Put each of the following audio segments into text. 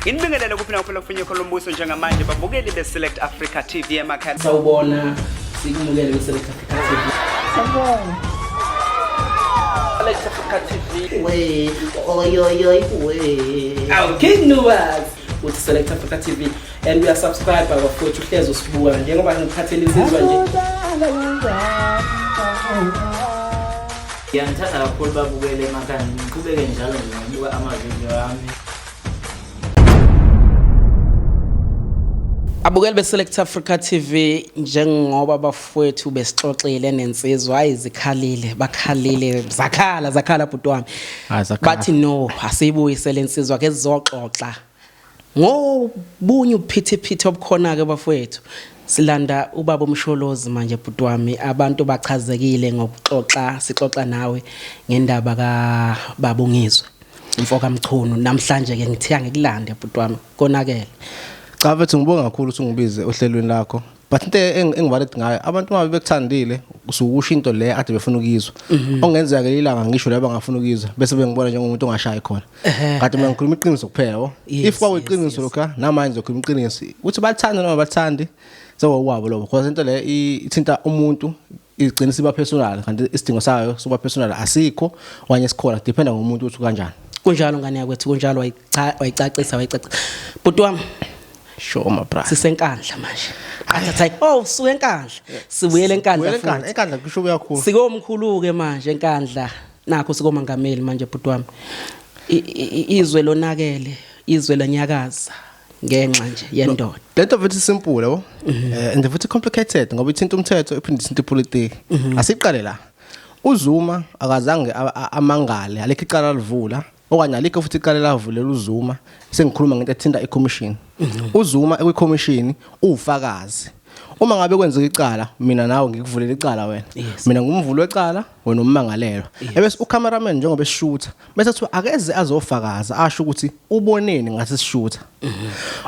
Inibingelele kuphi nakuphela kufinyekho lombuso njengamanje babukeli be-select africa tv emakhaya sawubona sikumukele kwi-select africa tv sawubona select africa tv we oyoyoy we awu king nuwas uthi select africa tv and uyasubscribe bafowethu uhlezi usibuka njengoba ngikhathela insizwa nje ngiyamthanda kakhulu babukele emakhaya ngiqhubeke njalo ngibuka amavidiyo ami Abukeli beSelect Africa TV njengoba bafowethu besixoxile nensizwa hayi zikhalile bakhalile zakhala zakhala bhuti wami Hayi, zakhala. bathi no asiyibuyise lensizwa ke sizoxoxa ngobunye ubuphithiphithi obukhona ke bafowethu silanda ubaba umsholozi manje bhuti wami abantu bachazekile ngokuxoxa sixoxa nawe ngendaba ka babungizwe Mfoka Mchunu namhlanje ke ngithiya ngikulande bhuti wami konakele. Cha mfethu ngibonga kakhulu ukuthi ungibize ohlelweni lakho. But into engibaled ngayo abantu uma bekuthandile usukusho into le ade befuna ukuyizwa. Mhm. Ongenzeka ke ilanga ngisho laba ngafuna ukuyizwa bese bengibona njengomuntu ongashayi khona. Kade mina ngikhuluma iqiniso kuphela. If kwakuyiqiniso lokho namanje ngizokhuluma iqiniso. Uthi bathanda noma bathandi sewawabo lobo because into le ithinta umuntu igcina siba personal kanti isidingo sayo sokuba personal asikho okanye sikhona dependa ngomuntu ukuthi kanjani kunjalo ngane yakwethu kunjalo wayicacisa wayicacisa bhuti wami sure ma bra sisenkandla manje athatha oh suke enkandla sibuyele enkandla futhi enkandla kusho kuyakhulu sikomkhulu ke manje enkandla nakho sikomangameli manje bhuti wami izwe lonakele izwe lanyakaza ngenxa nje yendoda lento futhi simple yabo mhm. eh, and futhi complicated ngoba ithinta umthetho iphinde ithinta ipolitiki mhm. asiqale la uzuma akazange amangale alikho icala livula okanye alikho futhi icala lavulela uzuma sengikhuluma ngento ethinta icommission mhm. uzuma ekwicommission ufakazi uma ngabe kwenzeka icala mina nawe ngikuvulela icala wena mina ngumvuli wecala wena ummangalelwa ebese ucameraman njengoba eshutha bese kuthiwa akeze azofakaza asho ukuthi uboneni ngase sishutha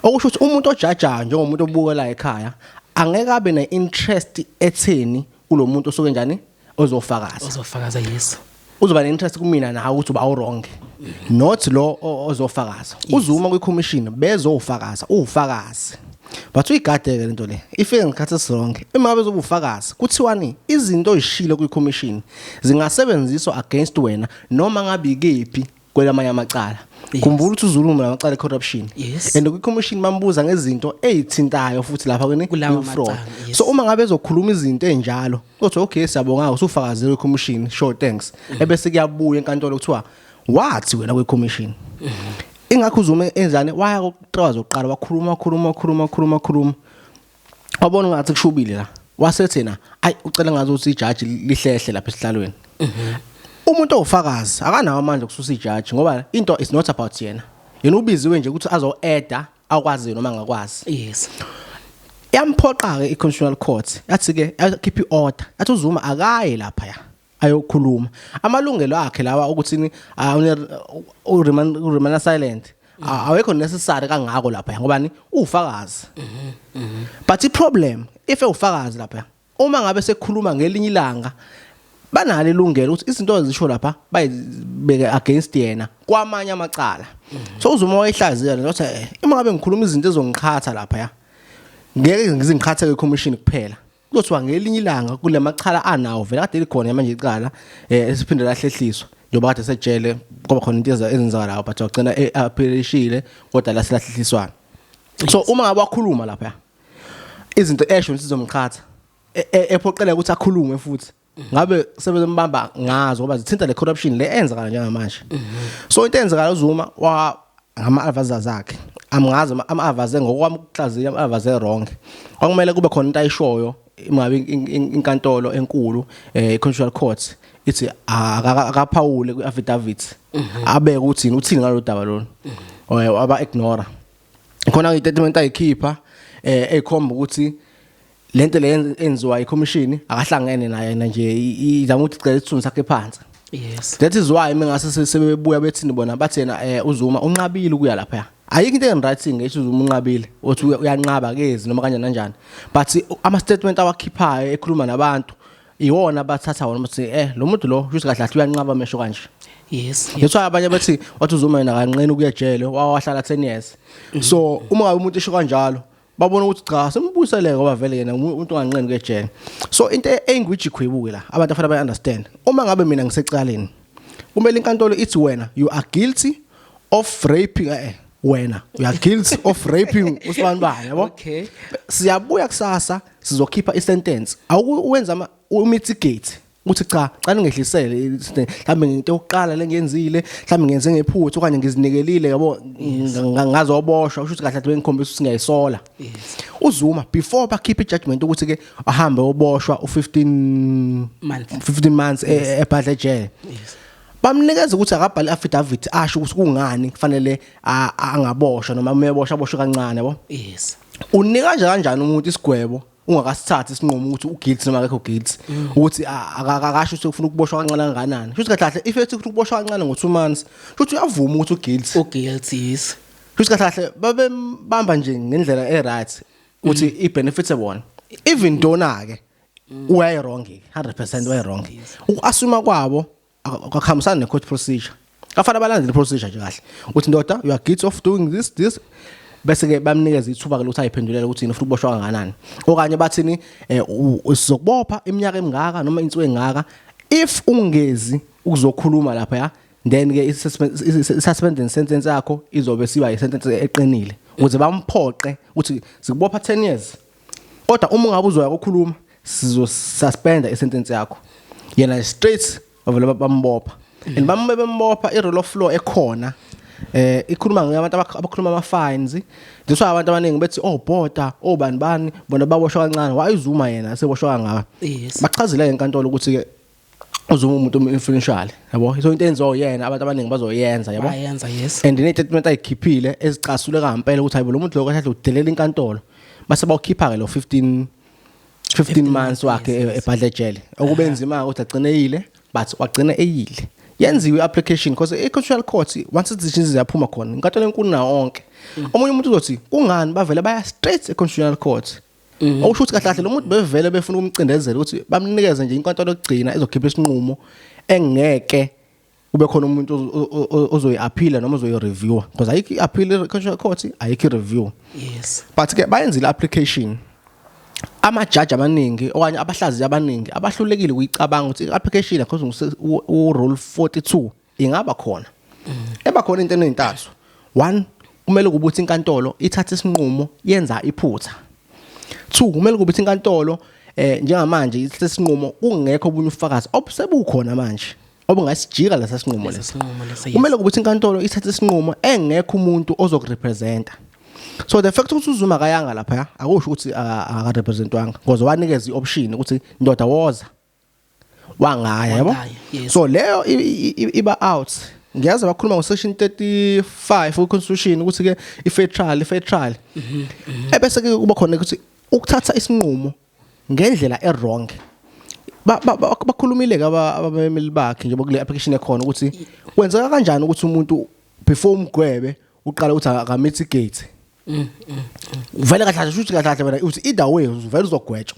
okusho ukuthi umuntu ojajayo njengomuntu obuka la ekhaya angeke abe ne interest etheni kulomuntu osuke njani ozofakaza ozofakaza yes uzoba ne-interest kumina nawe ukuthi uba wrong not lo ozofakaza uzuma kwi-commission bezofakaza uwufakazi But uyigadeke lento le. Ifike ngikhathi song. Uma bezobufakazi kuthiwani izinto oyishilo kwi commission zingasebenziswa against wena noma ngabe ikephi kwelamanye amacala khumbula ukuthi uzuluma lamacala corruption yes. and kwi-commission mambuza ngezinto ezithintayo futhi lapha kweni fraud yes. so uma ngabe ezokhuluma izinto enjalo uthi okay siyabonga usufakazile kwi-commission sure thanks mm. ebese kuyabuya enkantolo kuthiwa wathi wena kwi-commission mm -hmm. ingakho uZuma enzane waya kokuqala zokuqala wakhuluma wakhuluma wakhuluma wakhuluma wakhuluma wabona ngathi kushubile la wasethi na ayi ucela ngathi ukuthi ijaji lihlehle lapha esihlalweni mhm. umuntu ofakazi akanawo amandla okususa ijaji ngoba into is not about yena yena ubiziwe nje ukuthi azo eda akwazi noma ngakwazi yes yamphoqa ke iconstitutional court yathi ke akhipha iorder yathi uzuma akaye lapha ya ayokhuluma amalungelo akhe lawa ukuthi uremain silent awekho necessary kangako lapha ngobani ufakazi but i problem if ufakazi lapha uma ngabe sekhuluma ngelinye ilanga banalo ilungelo ukuthi izinto ezisho lapha bayibeke against yena kwamanye amacala so uzuma wayihlaziya lento ukuthi eh, uma ngabe ngikhuluma izinto ezongiqhatha lapha ya ngeke ngizingiqhatheke commission kuphela kuthiwa ngelinye ilanga kule machala anawo vele kade likhona manje icala eh, esiphinde lahlehliswa njengoba kade sejele kwaba khona into ezenzakalayo but wagcina e- aphilishile kodwa lasilahlehliswana so uma ngabe wakhuluma lapha izinto esho sizomqhatha e- e- ephoqeleka ukuthi akhulume futhi ngabe sebezembamba ngazo ngoba zithinta le corruption le enzakala njengamanje so into eyenzakala uZuma wa ngama advisors zakhe amngazi ama advisors ngokwami ukuhlaziya ama advisors wrong kwakumele kube khona into ayishoyo ingabe inkantolo enkulu eh constitutional court ithi akaphawule kwi affidavit mhm. abeke ukuthi uthini ngalo daba lona mhm. aba ignore khona ngitatimenta ayikhipha eh ekhomba ukuthi lento le enziwa ikhomishini akahlangene naye yena nje izama ukuthi cela isithunzi sakhe phansi yes that is why mina ngase sebebuya bethini bona bathi yena eh, uzuma unqabile ukuya lapha ayikho into engiright ngisho uzuma unqabile othi uyanqaba kezi noma kanjani kanjani but ama statement awakhiphayo ekhuluma nabantu iwona bathatha wona ukuthi eh lo muntu lo kusho kahle uyanqaba amesho kanje yes yes so abanye bathi wathi uzuma yena kanqeni ukuyejele wawahlala 10 years so uma ngabe umuntu esho kanjalo babona ukuthi cha simbuyiseleke ngoba vele yena umuntu onganqeni kejele so into e-, engwiji khwibuke la abantu afanele bayi understand uma ngabe mina ngisecaleni kumele inkantolo ithi wena you are guilty of raping eh, eh wena you are guilty of raping usibani bani yabo okay siyabuya kusasa sizokhipha i sentence awuwenza ama mitigate uthi cha xa ningehlisele mhlawumbe ngento yokuqala lengiyenzile mhlawumbe ngenze ngephutha okanye ngizinikelile yabo ngazoboshwa usho ukuthi kahle athi bengikhombisa ukuthi ngiyayisola uzuma before bakhiphe ijudgment ukuthi ke ahambe oboshwa u15 months 15 months ebhadle e, jail bamnikeza ukuthi akabhale affidavit asho ukuthi kungani kufanele angaboshwa noma umebosha aboshwe kancane yabo yes unika nje kanjani umuntu isigwebo ungakasithathi isinqumo ukuthi uguilt noma akekho guilt mm. ukuthi akakasho ukuthi ufuna ukuboshwa kancane kanganani shuthi kahle kahle if ethi ufuna ukuboshwa kancane ngo 2 months shuthi uyavuma ukuthi uguilt uguilt yes shuthi kahle kahle babembamba nje ngendlela e right ukuthi mm. i benefits ebona even dona ke mm. uyayi wrong 100% uyayi wrong uku assume kwabo akakhambisani ne court procedure kafana balandele procedure nje kahle uthi ndoda you are guilty of doing this this bese ke bamnikeza ithuba ke lokuthi ayiphendulele ukuthi yini ufuna ukuboshwa kanganani okanye bathini eh, sizokubopha iminyaka emingaka noma insuku engaka if ungezi ukuzokhuluma lapha ya then ke i-suspending sentence yakho izobe siba i-sentence eqinile ukuze bamphoqe ukuthi sikubopha 10 years kodwa uma ungabe uzoya kokhuluma sizosuspenda isentence yakho yena straight bavele bambopha and bambe bembopha i-rule of law ekhona eh ikhuluma ngabantu abakhuluma ama fines that's why abantu abaningi bethi oh border oh bani bani bona baboshwa kancane wayizuma yena seboshwa kangaka bachazile enkantolo ukuthi ke uzuma umuntu influential yabo so into enziwa uyena abantu abaningi bazoyenza yabo bayenza yes and ne statement ayikhiphile ezicasule kampela ukuthi hayibo lo muntu lo kahle udelela inkantolo base bawukhipha ke lo 15 15 months wakhe ebhadle jele okubenzima ukuthi agcineyile but wagcina eyile yenziwe application because i-constitutional court once decisions ziyaphuma khona inkantolo enkulu nawo onke mm. omunye umuntu uzothi kungani bavele baya straight e-constitutional court Mhm. Okusho ukuthi kahle kahle lo muntu bevele befuna ukumcindezela ukuthi bamnikeze nje inkantolo yokugcina ezokhipha isinqumo engeke kube khona umuntu ozo- o- o- ozoyi-aphila noma ozoyi-reviewer because ayikho i-appeal i-constitutional court ayikho i-review yes but ke bayenzile application amajaji amaningi okanye abahlaziyi abaningi abahlulekile ukuyicabanga ukuthi i-application yakho urule 42 ingaba khona eba khona into enintathu one kumele kube ukuthi inkantolo ithatha isinqumo yenza iphutha two kumele kube ukuthi inkantolo eh njengamanje ithatha isinqumo kungekho obunye ufakazi obusebukhona manje obungasijika lesa sinqumo lesi kumele kube ukuthi inkantolo ithatha isinqumo engekho umuntu ozokurepresenta so the fact ukuthi uzuma kayanga lapha akusho ukuthi akarepresentwanga ngoze wanikeza ioption ukuthi ndoda woza wangaya yabo Wangaya, yes. so leyo i- i- i- iba out ngiyazi bakhuluma ngo section 35 ku constitution ukuthi ke i fair trial i fair trial Mhm, ebese ke kuba khona ukuthi ukuthatha isinqumo ngendlela e wrong ba ba- ba- bakhulumile ke aba- abamemeli bakhe njengoba kule application ekhona ukuthi kwenzeka kanjani ukuthi umuntu before umgwebe uqala ukuthi akamitigate vele kahle kahle shuthi kahle kahle wena uthi either way vele uzogwetshwa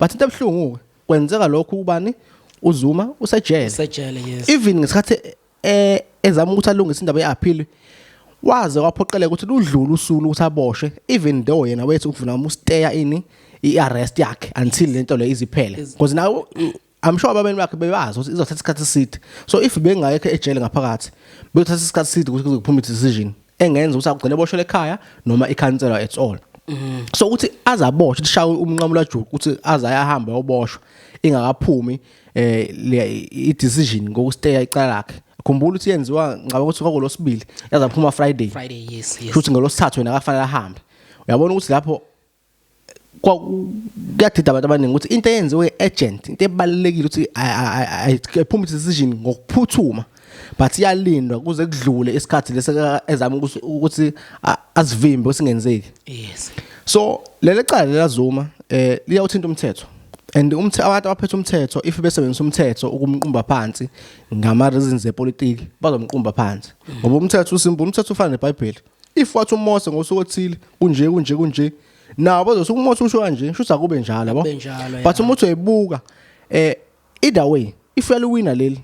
but into ebuhlungu kwenzeka lokhu ubani uzuma usejele usejele yes even ngesikhathi eh ezama ukuthi alungise indaba yeappeal waze waphoqeleka ukuthi ludlule usulu ukuthi aboshwe even though yena wethu ukuvuna umusteya ini iarrest yakhe until lento le iziphele because nawe I'm sure abameli bakhe bebazi ukuthi izothatha isikhathi eside so if bengayekho ejele ngaphakathi bekuthatha isikhathi eside ukuthi kuze kuphume decision engenza ukuthi akugcine boshele ekhaya noma ikhanselwa at all mm. so ukuthi azaboshwe kushawe umnqamulo ajuku ukuthi azayahamba yoboshwa ingakaphumi eh i decision ngokusteya icala lakhe khumbula ukuthi yenziwa ngaba ukuthi kwakulosibili yazaphuma friday friday yes yes futhi ngelosithathu wena akafanele ahambe uyabona ukuthi lapho kuyadida abantu abaningi ukuthi into eyenziwe agent into ebalekile ukuthi ayiphuma decision ngokuphuthuma but iyalindwa kuze kudlule isikhathi lesi ezama ukuthi asivimbe usingenzeki yes so leli cala lelazuma eh liyawuthinta umthetho and umthe abantu abaphethe umthetho if besebenzisa umthetho ukumqumba phansi ngama reasons zepolitiki bazomqumba phansi ngoba umthetho usimbu umthetho ufana neBhayibheli if wathi umose ngosuku othile kunje kunje kunje nabo bazosuka umose usho kanje shuthi akube njalo yabo Akube njalo, but yeah. umuthi uyibuka eh either way if uyaliwina leli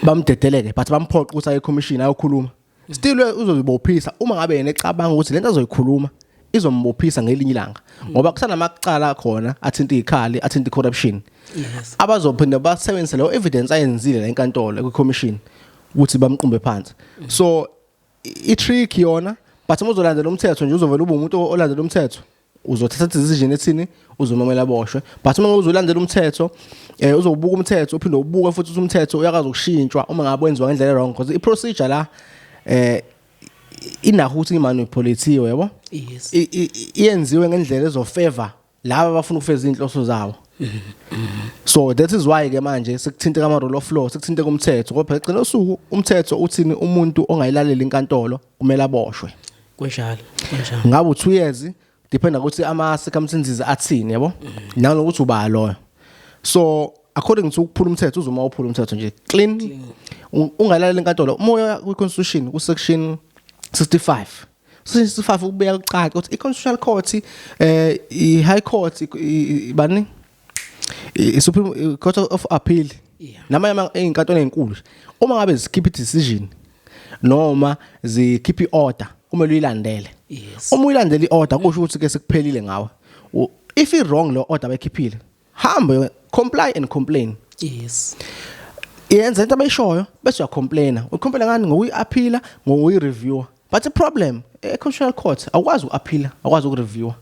bamdedeleke but bamphoqa ukuthi aye commission ayokhuluma still we- uzozibophisa uma ngabe yena ecabanga ukuthi lento azoyikhuluma izombophisa ngelinye ilanga ngoba kusanamacala khona athinta ikhali athinta corruption Yes. abazophinde basebenzise leyo evidence ayenzile la enkantolo kwi commission ukuthi bamqumbe phansi so i trick yona but uma uzolandela umthetho nje uzovela ube umuntu olandela umthetho uzothatha decision ethini uzomamela boshwe but uma uzolandela umthetho eh uzobuka umthetho uphinde ubuke futhi umthetho uyakaza ukushintshwa uma ngabe wenziwa ngendlela wrong because i procedure la eh inaho ukuthi imanipulatiwe yabo yes iyenziwe ngendlela ezofavor laba abafuna ukufeza izinhloso zawo so that is why ke manje sekuthinte kama rule of law sekuthinte kumthetho kodwa eqina usuku umthetho uthini umuntu ongayilaleli inkantolo kumele aboshwe kunjalo kunjalo ngabe u2 years dependa ukuthi ama circumstances athini yabo nanokuthi uba loyo so according to ukuphula umthetho uzuma uphula umthetho nje clean ungalaleli inkantolo umoya kwi constitution ku section 65 sifafa ukubeka kucaca ukuthi i-constitutional court eh i-high court bani i-supreme court of appeal namanye izinkantolo ezinkulu uma ngabe zikhipha i-decision noma zikhipha i-order kumele uyilandele uma uyilandela i-order kusho ukuthi ke sekuphelile ngawe if i-wrong lo order bayikhiphile hambe comply and complain yes yenza into abayishoyo bese uyacomplaina ucomplaina ngani ngokuyi-aphila ngokuyi-reviewer but i-problem e-constitutional court awukwazi uku-aphila awukwazi uku-reviewer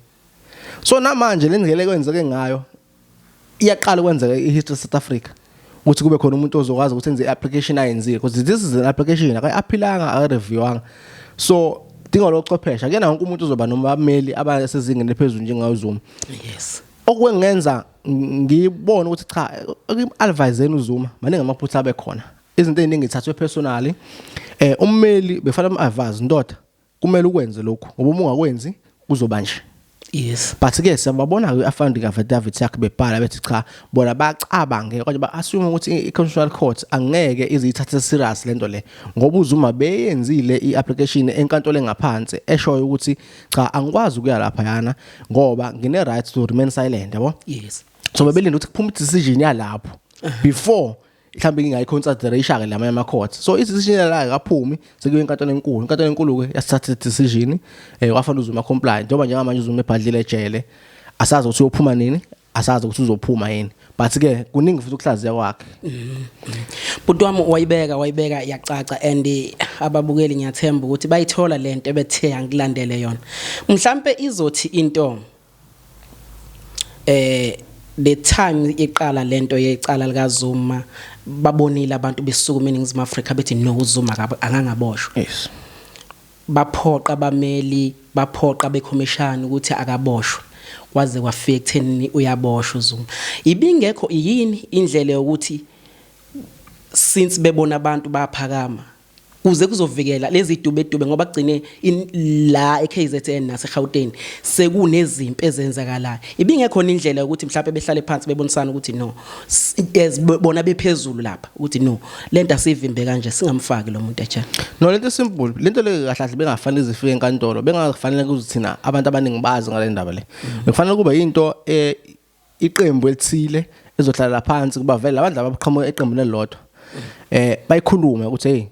so namanje le ndlela ekwenzeke ngayo iyaqala ukwenzeka i-history south africa ukuthi kube khona umuntu ozokwazi ukuthi enze i-application ayenzile because this is an application akayi-aphilanga akayi-reviewanga so dinga lochwepheshe akuyena wonke umuntu uzoba nomameli abasezingeni eliphezulu njengayo zoom yes okwengenza ngibone ukuthi cha adviseni uZuma maningi amaphutha abe khona izinto eziningi ithathwe personally eh ummeli befana umadvise ndoda kumele ukwenze lokhu ngoba uma ungakwenzi kuzoba nje yes but ke siyababona ke afandi ka David yakhe bebhala bethi cha bona bacabange kodwa ba assume ukuthi i-constitutional court angeke izithathe serious lento le ngoba uzuma beyenzile i-application enkantolo engaphansi eshoyo ukuthi cha angikwazi ukuya lapha yana ngoba ngine right to remain silent yabo yes so bebelinda ukuthi kuphume decision yalapho before mhlawumbe ngingayiconsider ishaka lama yama court so isisinela la kaphumi sekuye enkantolo enkulu inkantolo enkulu ke yasithatha decision eh wafanele uzuma compliant njengoba njengamanje uzuma ebhadlile ejele asazi ukuthi uyophuma nini asazi ukuthi uzophuma yini but ke kuningi futhi ukuhlaziya kwakhe buti wami wayibeka wayibeka yacaca and ababukeli ngiyathemba ukuthi bayithola lento ebethe angilandele yona mhlambe izothi into eh the time iqala lento yecala lika Zuma babonile abantu besukuma eningizimu Afrika bethi no Zuma akaboshwa yes Baphoqa abameli baphoqa abekhomishani ukuthi akaboshwe kwaze kwafika ekuthenini uyaboshwa uZuma. Ibingekho yini indlela yokuthi since bebona abantu bayaphakama kuze kuzovikela lezi dubedube ngoba kugcine la eKZN naseGauteng sekunezimpi ezenzakalayo ibingekhona indlela ukuthi mhlawumbe behlale phansi bebonisana ukuthi no as bona bephezulu lapha ukuthi no lento asivimbe kanje singamfaki lo muntu ejele no lento simple lento le kahle kahle bengafanele zifike enkantolo bengafanele kuzithina abantu abaningi bazi ngale ndaba le mm. bekufanele kube into eh, iqembu elithile ezohlala phansi kuba vele abantu laba baqhamuka eqembini elilodwa eh bayikhulume ukuthi hey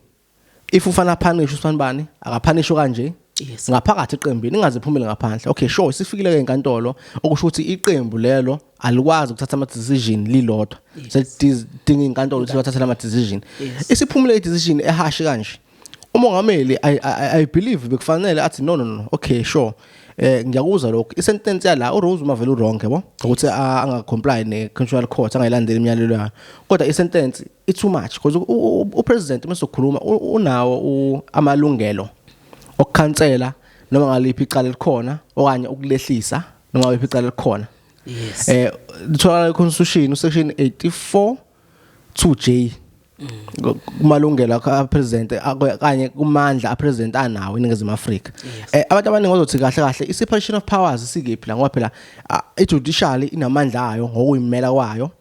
if ufana punish usifana bani akaphanish kanje Yes. ngaphakathi eqembini ingaze iphumele ngaphandle okay sure sifikile ke enkantolo okusho ukuthi iqembu lelo alikwazi ukuthatha ama decision lilodwa selidinga inkantolo ukuthi bathathe ama decision Yes. isiphumule i decision ehashi kanje umongameli i i, I believe bekufanele athi no no no okay sure eh ngiyakuzwa lokho i sentence yala u Rose umavela u wrong yabo ukuthi a- angacomply ne constitutional court angayilandeli imiyalelo yayo kodwa i sentence it's too much because u president mesokhuluma unawo amalungelo okukhansela noma ngaliphi icala elikhona okanye ukulehlisa noma ngaliphi icala elikhona yes eh litholakala iconstitution section 84 2J kumalungelo akho apresident kanye kumandla apresident anawo eningizimu Afrika eh, abantu abaningi bazothi kahle kahle i separation of powers sikephi la ngoba phela i judiciary inamandla ayo ngokuyimela kwayo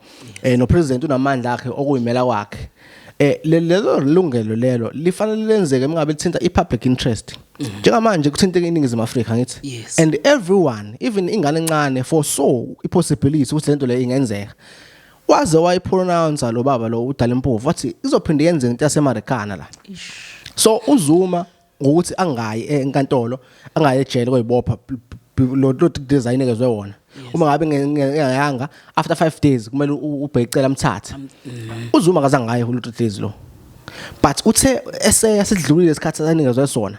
eh no president unamandla akhe okuyimela kwakhe eh lelo lungelo lelo lifanele lenzeke engabe lithinta ipublic interest mhm. njengamanje kuthinteke iningizimu Afrika ngithi and everyone even ingane encane for so i possibility ukuthi lento le ingenzeka waze wayipronounce lo baba lo udala impovu wathi izophinde yenze into yasemarikana la so uzuma ngokuthi angayi enkantolo angaye ejele koyibopha lo lo design ekezwe wona uma ngabe ngiyanga after 5 days kumele ubhekicela amthathe uzuma kaza ngaye lo days lo but uthe eseya sidlulile isikhathi sanikezwe sona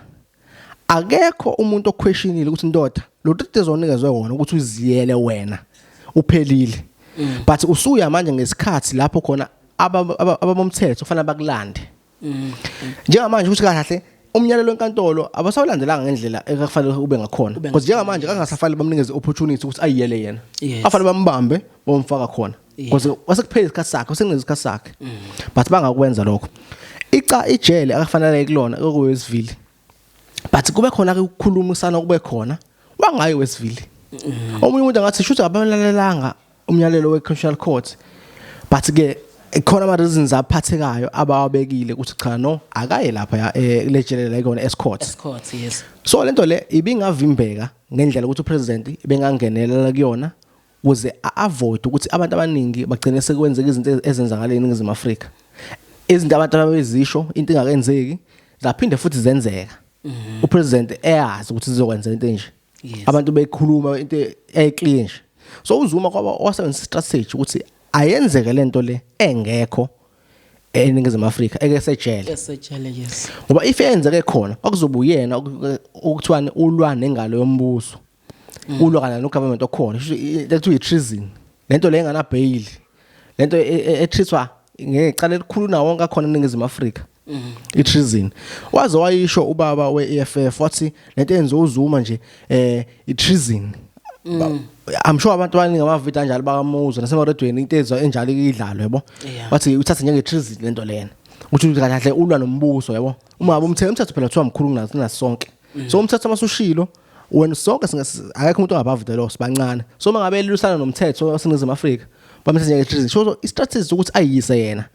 akekho umuntu oquestionile ukuthi indoda lo days onikezwe wona ukuthi uziyele wena uphelile mm. but usuya manje ngesikhathi lapho khona abamomthetho kufanele bakulande Mm. Njengamanje ukuthi kahle umnyalelo wenkantolo abasawulandelanga ngendlela ekufanele ube ngakhona because njengamanje kangasafanele bamnikeze opportunity ukuthi ayiyele yena afanele bambambe bomfaka khona because wasekuphela isikhathi sakhe usengenza isikhathi sakhe mm. but bangakwenza lokho ica ijele akafanele kulona kokuyesivile but kube khona ke ukukhulumisana kube khona wangayi wesivile mm. omunye umuntu angathi shuthi abalalelanga umyalelo we-constitutional court but ke khona ama reasons aphathekayo abawabekile ukuthi cha no akaye lapha eh, lejelela ikona escourt escourt yes so lento le ibingavimbeka ngendlela ukuthi upresident bengangenelela kuyona ukuze a-avoid ukuthi abantu abaningi bagcine sekwenzeka izinto ezenzakala eningizimu afrika izinto abantu ababezisho into ingakenzeki zaphinde futhi zenzeka mhm. upresident eyazi ukuthi zizokwenza into enje abantu bekhuluma into eclear nje so uzuma kwaba wasebenzisa strategy ukuthi ayenzeke lento le engekho eningizimu Afrika eke sejele esejele yes ngoba if yenzeke khona okuzobuyena okuthiwani ulwa nengalo yombuso Mm. ulwa kana no government okhona lethu i treason lento le engana bail lento ethiswa e, e, ngecala elikhulu nawo wonke akhona eningizimu Afrika mm. i treason waze wayisho ubaba we EFF wathi lento enziwa uzuma nje eh i treason mm. I'm sure abantu abaningi abavita njalo bakamuzwa nasemaredweni into ezwa enjalo idlalwe yabo wathi uthatha njenge treason lento lena ukuthi kahle ulwa nombuso yabo uma abumthetho umthetho phela kuthiwa mkhulu kunasonke mm. so umthetho masushilo wena sonke akekho umuntu ongabove the law sibancane so uma ngabe elusana nomthetho waseningizimu afrika bamthethe nje so i-strategy sokuthi ayiyise yena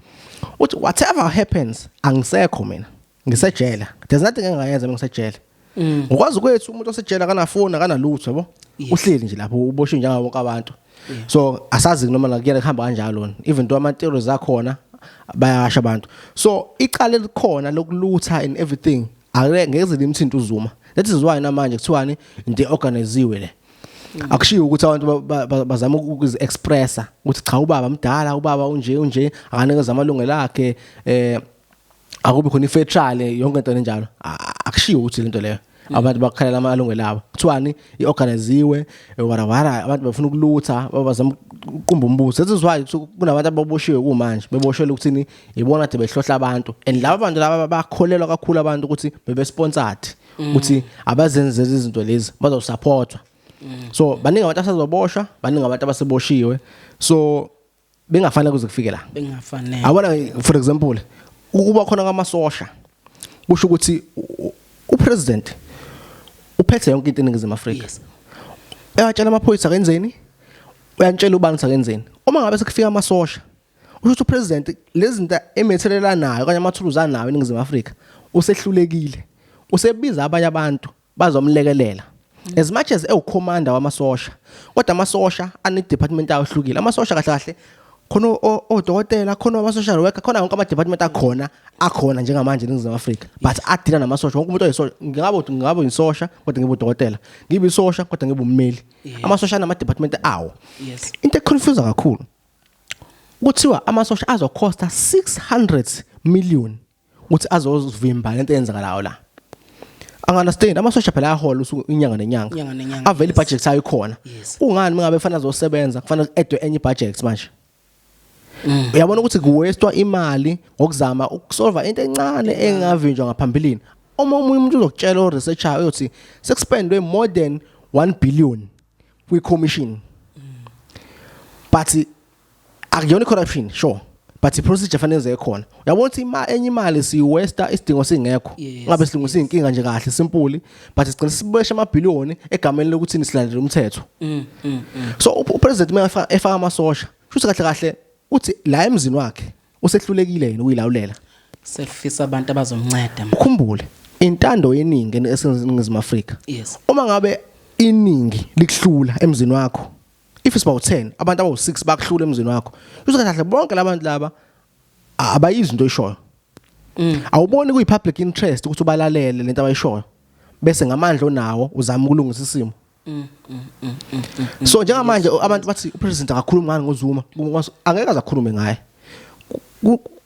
uthi whatever happens angisekho mina ngisejele there's nothing engingayenza ngisejele mm. ngokwazi kwethu umuntu osejele akanafoni akanalutho yabo uhleli nje lapho uboshwe njengawo wonke abantu so asazi noma la kuyena kuhamba kanjalo even though ama theories akhona bayasha abantu so icala elikhona lokulutha and everything ake ngeze limthinta uzuma that is why namanje kuthiwani into organiziwe le mm. akushiyo ukuthi abantu bazama ukuzi expressa ukuthi cha ubaba mdala ubaba unje unje akanikeza amalungelo akhe eh akubi khona ifair trial yonke into enjalo akushiwo ukuthi lento leyo abantu bakhalela amalungelo abo kuthiwani iorganiziwe warawara abantu bafuna ukulutha bazama uqumba umbuso this is why kunabantu ababoshiwe kumanje beboshelwe ukuthini ibona de behlohla abantu and laba bantu laba bakholelwa kakhulu abantu ukuthi bebe sponsored mm. ukuthi abazenze izinto lezi bazosupportwa mm. so baningi abantu asazoboshwa baningi abantu abaseboshiwe so bengafanele kuze kufike la bengafanele awona for example ukuba khona kwamasosha kusho ukuthi upresident uphethe yonke into eningizimu Afrika eyatshela amaphoyisa kenzeni uyantshela ubani sakenzeni uma ngabe sekufika amasosha usho ukuthi upresident lezinto emethelelanayo kanye amathuluzi anawo eningizimu Afrika usehlulekile usebiza abanye abantu bazomlekelela mm. as much as ewucommander wamasosha kodwa amasosha ane department awo hlukile amasosha kahle kahle khona odokotela khona ama social worker khona wonke ama department akhona akhona njengamanje eNingizimu Afrika but adila namasosha wonke umuntu oyisosha ngingabo ngingabo insosha kodwa ngibe udokotela ngibe isosha kodwa ngibe ummeli amasosha nama department awo into econfuse kakhulu kuthiwa amasosha azokhosta 600 million ukuthi azozivimba lento eyenzakalayo la anganastain amasosha phela ayahola usuku inyanga nenyanga Inyanga nenyanga, avele yes. ibudget sayo ikhona Yes. kungani mingabe kufanele azosebenza kufanele edwe enye ibudget manje Mm. uyabona ukuthi kuwestwa imali ngokuzama ukusolva into encane engavinjwa ngaphambilini uma omunye umuntu uzokutshela oresearchayo uyothi sekuspendwe more than 1 billion kwi-commission but akuyona corruption sure but iprocedure fanele yenze khona uyabona ukuthi ima enye imali siyiwesta isidingo singekho ngabe silungu siyinkinga nje kahle simpuli but sigcina sibesha amabhiliyoni egameni lokuthi nisilandele umthetho mm, mm, mm. so upresident uma efaka amasosha shuthi kahle kahle uthi la emzini wakhe usehlulekile yini ukuyilawulela sefisa abantu abazomnceda ukhumbule intando yeningi eseningizimu Afrika uma ngabe iningi likuhlula emzini wakho if it's about 10 abantu abawu6 bakuhlula emzini wakho uzokahle bonke labantu laba abayizi into oyishoyo mm. awuboni kuyi public interest ukuthi ubalalele lento abayishoyo bese ngamandla onawo uzama ukulungisa isimo mm, mm, so njengamanje abantu bathi upresident akakhulumi ngani ngozuma angeke azakhulume ngaye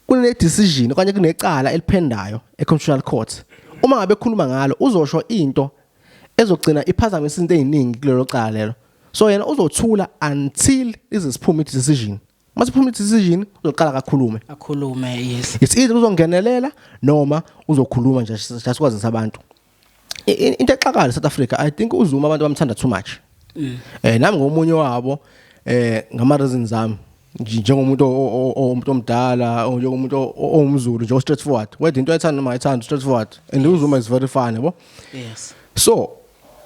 kune decision okanye kunecala eliphendayo e constitutional court uma ngabe khuluma ngalo uzosho into ezogcina iphazamisa into eziningi kulelo cala lelo so yena uzothula until ize siphume i decision mase phuma decision uzoqala kakhulume akhulume yes it's either uzongenelela noma uzokhuluma nje sikwazisa abantu into exakala South Africa i think uzuma abantu bamthanda too much mm. eh nami ngomunye wabo eh ngama reasons zami njengomuntu omuntu omdala njengomuntu owumzulu nje straight forward wethu into ayithanda noma ayithanda straight forward and uzuma is very funny yabo yes so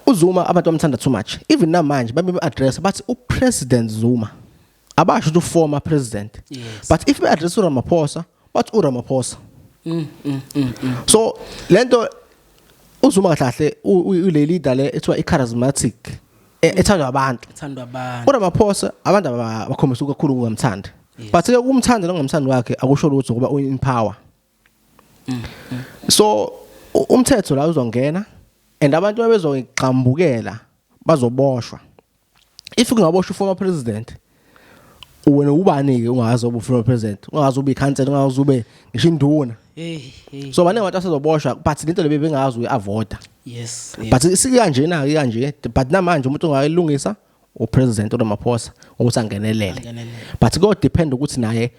UZuma abantu bamthanda too much. Even namanje babe address bathi uPresident Zuma. Abasho ukuthi uformer president. Yes. But if be address uRamaphosa, bathi uRamaphosa. Mm, mm, mm, mm. So lento uZuma kahle ule leader le ethiwa icharismatic e, ethandwa abantu. Ethandwa abantu. URamaphosa abantu abakhombisa ukukhulu ukumthanda. But ke ukumthanda nongamthanda wakhe akusho lutho ngoba uyin power. so umthetho la uzongena and abantu abezogxambukela bazoboshwa if kungaboshwa former president wena ubani ke ungazi obu former president ungazi ube cancel ungazi ube ngisho induna so bane abantu asezoboshwa but lento lebe bengazi uyaavoda yes but sikanje na kanje but namanje umuntu ongayilungisa upresident uRamaphosa ukuthi angenelele but ko depend ukuthi naye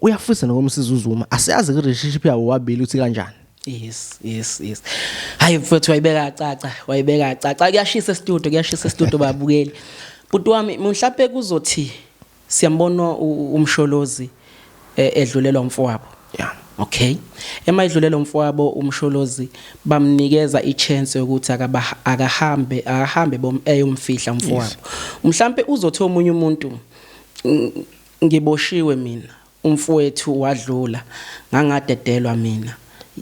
uyafisa nokumsiza uZuma asiyazi relationship yabo wabili uthi kanjani Yes, yes, yes. Hayi mfowethu wayibeka caca, wayibeka caca. Kuyashisa e-studio, kuyashisa e-studio babukeli. Bhuti wami mhlawumbe kuzothi Siyambona uMsholozi edlulelwa umfowabo. Yeah. Okay. Ema edlulelwa umfowabo uMsholozi bamnikeza ichance yokuthi akaba akahambe akahambe bom eyomfihla umfowabo. Mhlambe uzothi omunye umuntu ngiboshiwe mina. Umfwethu wadlula ngangadedelwa mina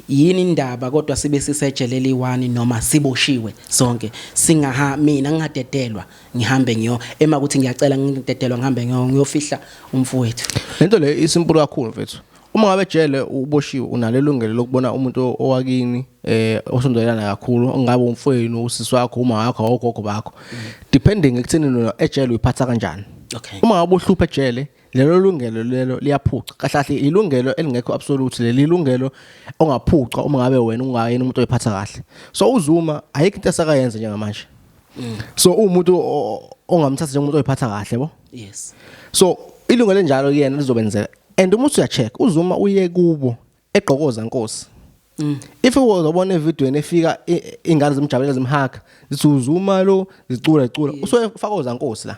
yini ndaba kodwa sibe sisejele eliyi one noma siboshiwe sonke singaha mina ngingadedelwa ngihambe ngiyo ema ukuthi ngiyacela ngidedelwa ngihambe ngiyo ngiyofihla umfowethu lento le isimple kakhulu mfethu uma ngabe ejele uboshiwe unalo ilungelo lokubona umuntu owakini eh osondelana kakhulu ongabe umfowenu usisi wakho uma wakho ogogo bakho depending ekutheni nona ejele uyiphatha kanjani okay uma ngabe uhlupha ejele lelo lungelo lelo liyaphuca kahle kahle ilungelo elingekho absolute leli lungelo ongaphuca uma ngabe wena ungayena umuntu oyiphatha kahle so uzuma ayikho into esakayenza njengamanje mm. so umuntu ongamthatha njengomuntu oyiphatha kahle bo yes so ilungelo enjalo kuyena lizobenzeka and uma usuya check uzuma uye kubo egqokoza nkosi Mm. If uzobona evidweni efika ingane zimjabulela zimhaga zithi uzuma lo zicula icula usuke fakoza nkosi la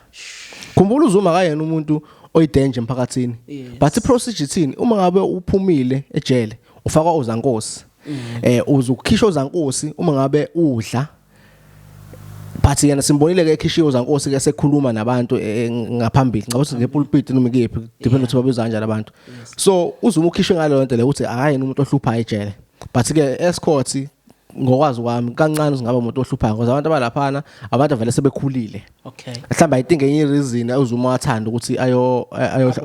khumbula uzuma kayena umuntu oyidanger emphakathini but iprocedure ithini uma ngabe uphumile ejele ufakwa ozankosi mm. eh uzukhishwa ozankosi uma ngabe udla but yena simbonile ke ekhishiwe zankosi ke sekhuluma nabantu eh, eh, ngaphambili ngabo ukuthi ngepulpit noma ikephi depend ukuthi babiza kanjani abantu so uzuma ukhishwe ngaleyo nto le ukuthi hayi umuntu ohlupha ejele but ke escourt ngokwazi kwami kancane singaba umuntu ohluphayo ngoba abantu abalaphana abantu avele sebekhulile okay mhlawumbe i think enye reason uzuma wathanda ukuthi ayo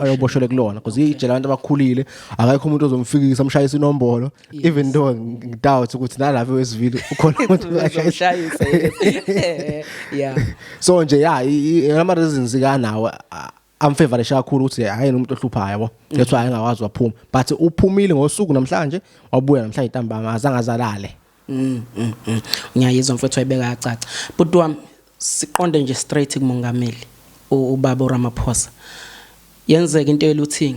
ayoboshelwe kulona because ijela abantu abakhulile akayikho umuntu ozomfikisa umshayisa inombolo Yes. even though ng- ngidoubt ukuthi nalapha wesivile ukhona umuntu ongashayisa Uzoshayisa, yes. yeah so nje ya ama reasons kanawo am favorite kakhulu ukuthi hayi umuntu ohluphayo yabo that's why engakwazi waphuma but uphumile ngosuku namhlanje wabuya namhlanje ntambama azange azalale Mm, mm, mm. ngiyayizwa mfethu wayibeka yacaca bhuti wami siqonde nje straight kumongameli u- ubaba uramaphosa yenzeka into eluthing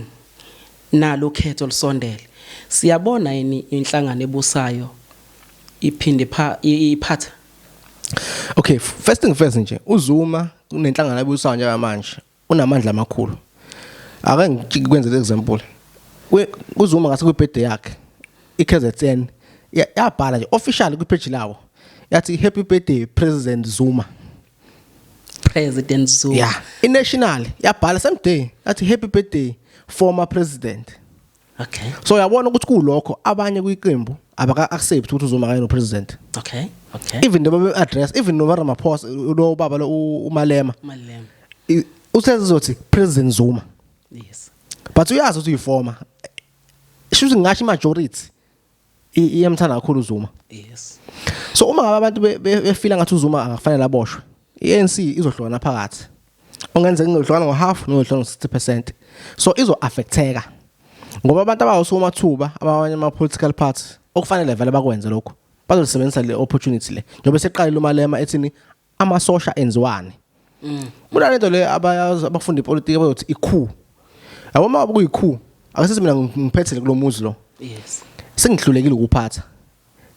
Nalo ukhetho lusondele. Siyabona yini inhlangano ebusayo iphinde ipha- i- iphatha? Okay, f- first thing first nje, uZuma kunenhlangano abusayo njengamanje, unamandla amakhulu. Ake ngikwenzele example. Kwi- KuZuma ngase kwibirthday yakhe, iKZN ya- yabhala nje officially kwipage lawo. Yathi happy birthday President Zuma. President Zuma. Yeah. I-national yabhala same day yathi happy birthday former president. Okay. So yabona ukuthi kulokho abanye kwiqembu abaka accept ukuthi uzoma kanye no president. Okay. Okay. Even noma be address even noma Ramaphosa lo baba lo uMalema. Malema. I- Usezothi president Zuma. Yes. But uyazi ukuthi uyiformer. Shuthi ngasho majority iyamthanda kakhulu uZuma yes so uma ngabe abantu befila ngathi uZuma akafanele aboshwe iANC izohlukana phakathi ongenzeka ngohlukana ngohalf nohlukana ngo60% so izo affecteka ngoba abantu abawusoma thuba abanye ama political parties okufanele vele bakwenze lokho bazosebenzisa le opportunity le njengoba seqalile umalema ethini amasosha enziwani mm. kunalento le abayazi abafunda ipolitiki abayothi ikhu yabo uma kuyikhu akasisi mina ngiphethele kulomuzi lo yes sengihlulekile ukuphatha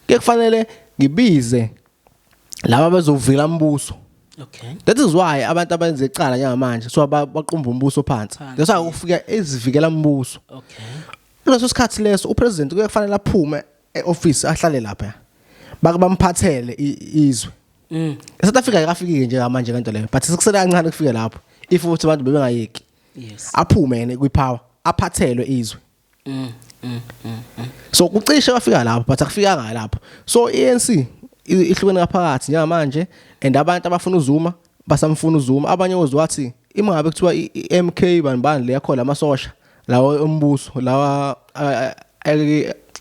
ke kufanele ngibize laba bezovila umbuso Okay. That is why abantu abenze icala njengamanje so baqumba umbuso phansi. That's why ufika ezivikela umbuso. Okay. Kuleso sikhathi leso upresident kuye kufanele aphume e-office ahlale lapha bake bamphathele i- izwe Mm. eSouth Africa ayikafikike nje manje kanto leyo but sekusele kancane kufike lapho if ukuthi abantu bebengayeki Yes. aphume yena kwipower aphathelwe izwe Mm. Mm. Mm. mm. so kucishe kwafika lapho but akufikanga lapho so i-ANC i- ihlukene ngaphakathi njengamanje and abantu abafuna uzuma basamfuna uZuma abanye ozwe wathi ima ngabe kuthiwa iMK bani bani le yakho lamasosha lawa ombuso lawa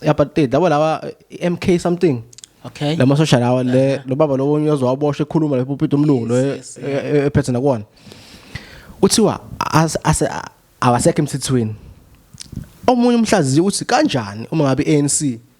apartheid labo lawa iMK something okay lamasosha lawa le lo baba lowo uyozwa wabosha ekhuluma lapho uphethe umlungu lo e- e- ephethe nakwona kuthiwa ase awasekho emthethweni omunye umhlaziyi uthi kanjani uma ngabe iANC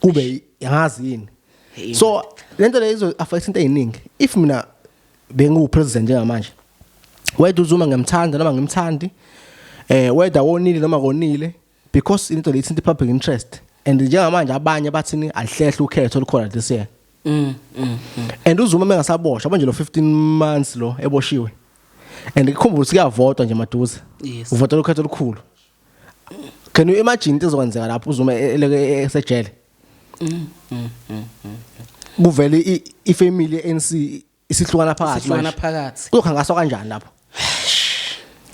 kube ngazi yini so lento le izo affect into eziningi if mina bengu president njengamanje whether uzuma ngimthanda noma ngimthandi eh whether wonile noma konile because into le ithinta public interest and njengamanje abanye bathini alihlehle ukhetho olukhona this year mm, mm, mm. and uzuma mengasaboshwa manje lo 15 months lo eboshiwe and ikhumbula ukuthi kuyavotwa nje maduze yes. uvota lokhetho olukhulu can you imagine into ezokwenzeka lapho uzuma e- eleke e- esejele kuvele i- ifamily ANC isihlukana phakathi Sihlukana manje. phakathi. kuzokhangaswa kanjani lapho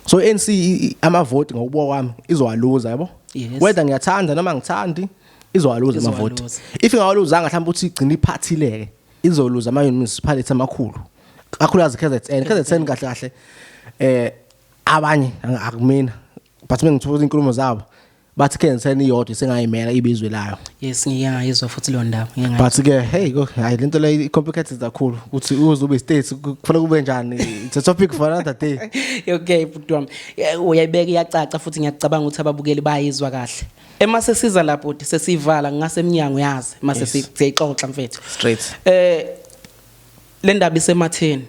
so ANC i- i- amavoti ngokubuka kwami izowaluza yabo Yes. whether ngiyathanda noma ngithandi izowaluza amavoti Izowaluza. if ingawaluzanga mhlawumbe uthi igcina iphathileke izoluza ama municipality amakhulu kakhulukazi KZN KZN kahle kahle eh abanye akumina but mengithola inkulumo zabo bathi ke ngisena iyodwa sengayimela ibizwe layo yes ngike ngayizwa futhi leyo ndaba ngike ngayizwa but ke hey go hayi lento le complicated kakhulu ukuthi uze ube state kufanele kube njani it's a topic for another day okay bhuti wami uyayibeka iyacaca futhi ngiyacabanga ukuthi ababukeli bayizwa kahle ema sesiza lapho uthi sesivala ngasemnyango yazi mase siyixoxa mfethu straight eh le ndaba isematheni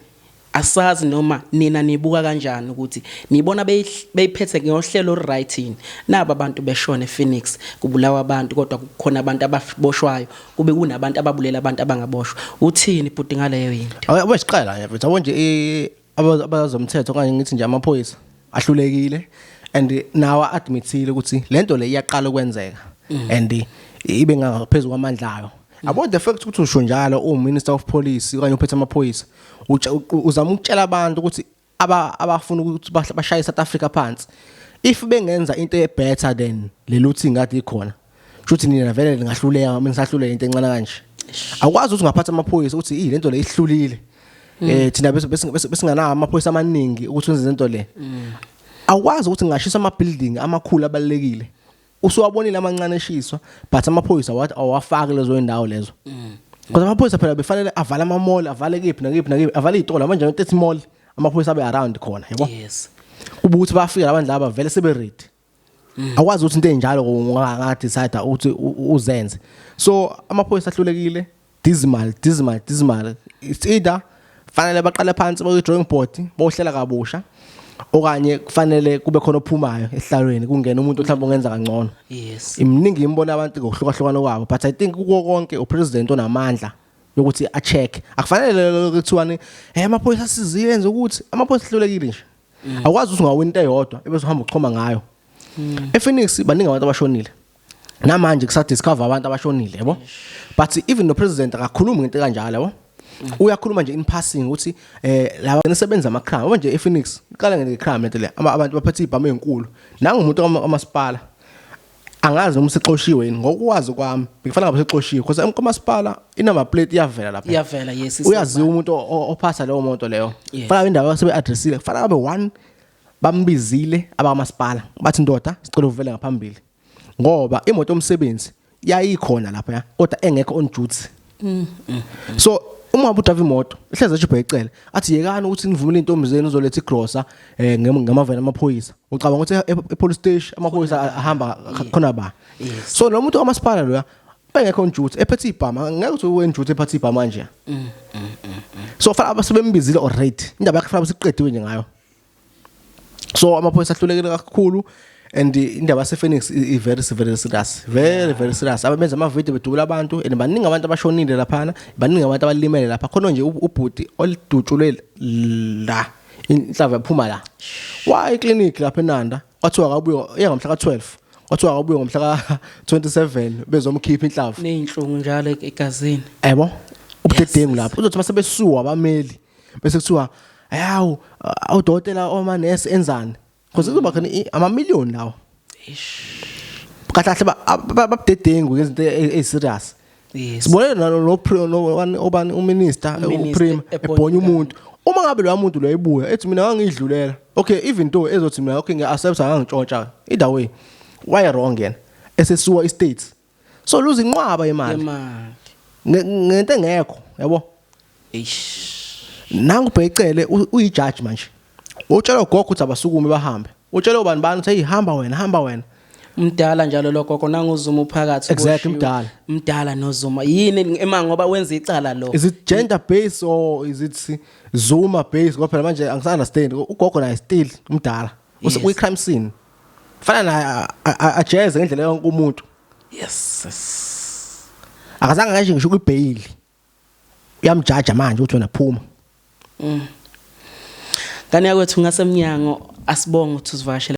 Asazi noma nina nibuka kanjani ukuthi nibona beyiphethe ngohlelo oluryt yini. Naba abantu beshona ePhoenix kubulawa abantu kodwa kukhona abantu ababoshwayo kube kunabantu ababulela abantu abangaboshwa. Uthini bhuti ngaleyo yinto? Awe abe siqala nje mfethu yabo nje i- aba- abazomthetho okanye ngithi nje amaphoyisa ahlulekile and nawa admithile ukuthi lento le iyaqala ukwenzeka mm. and ibe ngaphezulu kwamandla ayo mm. about the fact ukuthi usho njalo u minister of police okanye uphethe amaphoyisa uzama ukutshela abantu ukuthi aba abafuna ukuthi bashaye South Africa phansi if bengenza into e better than leluthi ngathi ikhona shuthi nina vele ningahluleka mina ngisahluleka into encane kanje awukwazi ukuthi ungaphatha amaphoyisa uthi i lento le ihlulile mm. eh thina bese besinganawo amaphoyisa amaningi ukuthi wenze lento le mm. awukwazi ukuthi ngashisa ama building amakhulu abalekile usuwabonile amancane eshiswa but amaphoyisa wathi awafaki lezo indawo lezo mm. kodwa amaphoyisa phela befanele avale ama mall avale kephi nakephi nakephi avale izitolo manje 30 mall amaphoyisa abe around khona yabo yes kuba ukuthi bafika abantu laba vele sebe ready akwazi ukuthi into enjalo unga decide ukuthi uzenze so amaphoyisa ahlulekile dismal dismal dismal it's either fanele baqale phansi baye drawing board bohlela kabusha okanye kufanele kube khona ophumayo ehlalweni kungena umuntu mhlawumbe ongenza kangcono yes iminingi imbona abantu ngokuhlukahlukana kwabo but i think kuko konke upresident onamandla yokuthi a check akufanele kuthiwani eh amaphoyisa siziyenze ukuthi amaphoyisa hlulekile nje awukwazi ukuthi ungawina into eyodwa ebese uhamba uchoma ngayo ePhoenix baningi abantu abashonile namanje kusa discover abantu abashonile yabo but even no president akakhulumi ngento kanjalo yabo uyakhuluma nje in passing ukuthi eh laba nisebenza ama crime manje ePhoenix iqala nge crime lento le abantu baphethe ibhamu ezinkulu nangu umuntu omasipala angazi noma usixoshiwe yini ngokwazi kwami ngikufanele ngabe usixoshiwe because umasipala inama plate iyavela lapha iyavela yes uyaziwa umuntu ophasa leyo moto leyo fanele indawo yasebe addressile fanele ngabe one bambizile abakamasipala bathi ndoda sicela uvele ngaphambili ngoba imoto yomsebenzi yayikhona lapha kodwa engekho on duty Mm, mm, mm. So uma ubuthafa imoto ihleze ejibhe ecele athi yekani ukuthi nivumele intombi zenu uzoletha igrosa eh ngamavela amaphoyisa ucabanga ukuthi e, e police station amaphoyisa ahamba khona ba so lo muntu omasipala loya engekho njuthi ephethe ibhama ngeke uthi wenjuthi ephethe ibhama nje mm, mm, mm, so fana abasebembizile already indaba yakhe fana basiqediwe nje ngayo so amaphoyisa ahlulekile kakhulu and indaba yasePhoenix i very very serious very very serious abenza ama video bedubula abantu and baningi abantu abashonile laphana baningi abantu abalimele lapha khona nje ubhuti olidutshulwe la inhlava yaphuma la wa iclinic lapha eNanda kwathiwa akabuye eyangomhla ka12 kwathiwa akabuye ngomhla ka27 bezomkhipha inhlava nezinhlungu njalo egazini yebo ubudedengu lapho uzothi masebesuwa abameli bese kuthiwa ayawu awudokotela oma nurse enzani because kuzoba khona ama million lawo kahle babudedengu ngezinto eziserious sibone nalo obani uminister uprime ebhonya umuntu uma ngabe loya muntu loya ibuya ethi mina ngangidlulela okay even though ezothi mina okay ngiya accept ngangitshontsha either way why wrong yena esesuwa istates so luza inqwaba imali yemali Nge- ngento engekho yabo eish nangu ubhecele u- uyijaji manje utshela ugogo ukuthi abasukume bahambe utshela ubani bani ukuthi hey hamba wena hamba wena mdala njalo lo gogo nanguzuma uphakathi Exactly, uboshiwe. mdala. mdala nozuma yini ema ngoba wenza icala lo is it gender based or is it zuma based ngoba phela manje angisunderstand ugogo naye still umdala Use- Yes. kwi crime scene fana naye ajeze ngendlela yonke umuntu yes akazange ngasho ngisho kwibhayili uyamjaja manje ukuthi wena phuma mm. ngane yakwethu ngasemnyango asibonga ukuthi uzivakashele